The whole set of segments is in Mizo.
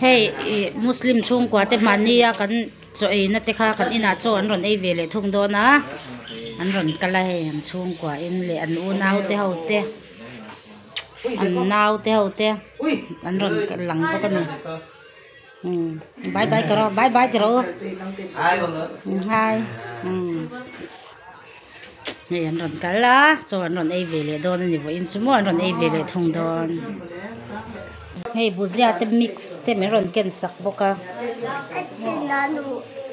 Hei Muslim chhungkua te hman nia kan chaw eina te kha kan inah chaw an rawn ei ve leh thung dawn a an rawn kal a hei an chhungkua in leh an unau te ho te an nau te ho te an rawn lang bawk a ni umm bye bye ka rawh bye bye ka rawh u hi hi. Hei an rawn kal a chaw an rawn ei ve leh dawn ani vawiin chu maw an rawn ei ve leh thung dawn hei buzia te mix te min rawn ken sak bawk a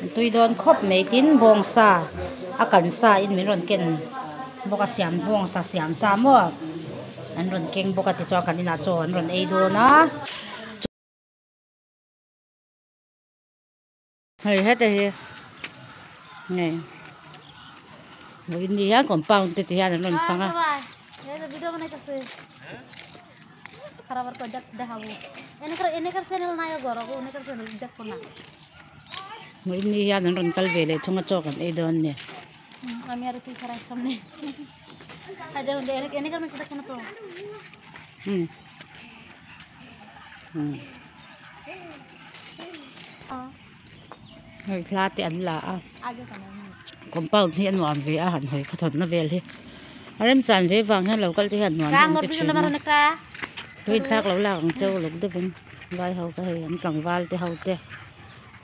an tui dawn khawp mai tin bawng sa a kan sa in min rawn ken bawk a siam bawng sa siam sa maw an rawn keng bawk a tichuan kan inah chaw an rawn ei dawn a. Hei heta hi nge mawi in ni hian compound te ti hian an rawn fang a. Mawi in ni hian an rawn kal ve leh thung a chawk an ei dawn nia. Hmm. hei thla te an la a compound hi a nuam ve a han hawi kha thawt na vel hi a remchang ve vang hian lo kal te hian nuam vel te thin a chu in thlak lo lak ang chu uluk deuh in vai ho te hei an tlangval te ho te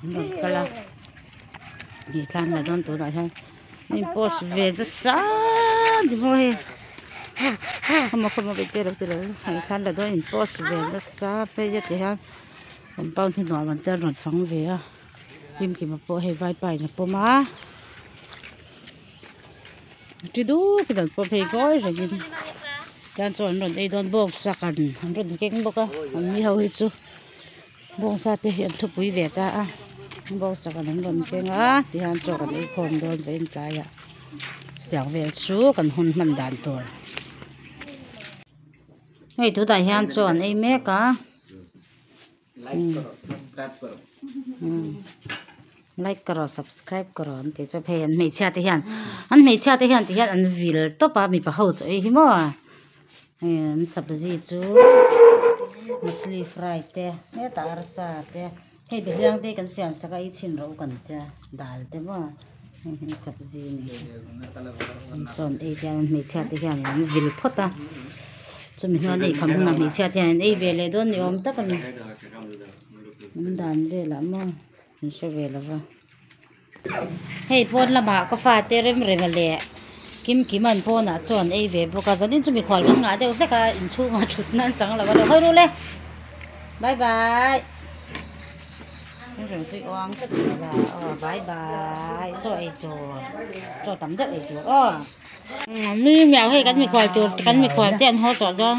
an rawn kal a ni tlan la dawn tun ah hian-- Min post ve ta sa ni maw hei khawmaw khawmaw beite lo ti lo hei thar la dawn in post ve ta sa phei a ti hian compound hi nuam ang chuan rawn fang ve a hlim kima pawh hei vaipa in a pawm a ti duk in an pawm phei vawi rengin tiang chuan an rawn ei dawn bawk sak an rawn keng bawk a an ni ho hi chu. Bawngsa te hi an thupui ve ta a, bawngsa kan han rawn keng a tihian chaw kan ei khawm dawn ve in tlai ah chutiang vel chu kan hun hman dan tur hei tunah hian chaw an ei mek a umm like karo subscribe karo an tih chuan hei an hmeichhia te hian an hmeichhia te hian tihian an vil tawp a mipa ho chu ei hi maw. Heng sabzi chu machli fry te heta arsa te hei biaklâng te kan siam saka i chhin ro kan tia dal te maw heng heng sabzi ni chuan ei hian hmeichhia te hian an vil phawt a chumi hnuai nei kham huna hmeichhia te hian ei ve leh dawn ni awm tak a ni an dan vel ah maw an hre ve lova. Hei pawn lamah ka fate Remrema leh Kimkima an pawnah chuan a ei ve bawk a, zanin chu mikhual kan ngah deuh hlek a, inchhungah a thutna a chang lo a ni. Hawi ru le, bye bye. Remrem chu i awang tlat mai la, aw bye bye, chaw ei tur, chaw tam deuh ei tur aw. Nui miau hei kan mikhual tur, kan mikhual te an haw tawh dawn.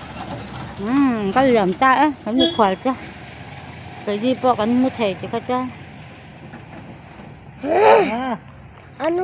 Umm an kal liam ta e kan hmu khual che Keihi pawh kan hmu thei chi kha chuan.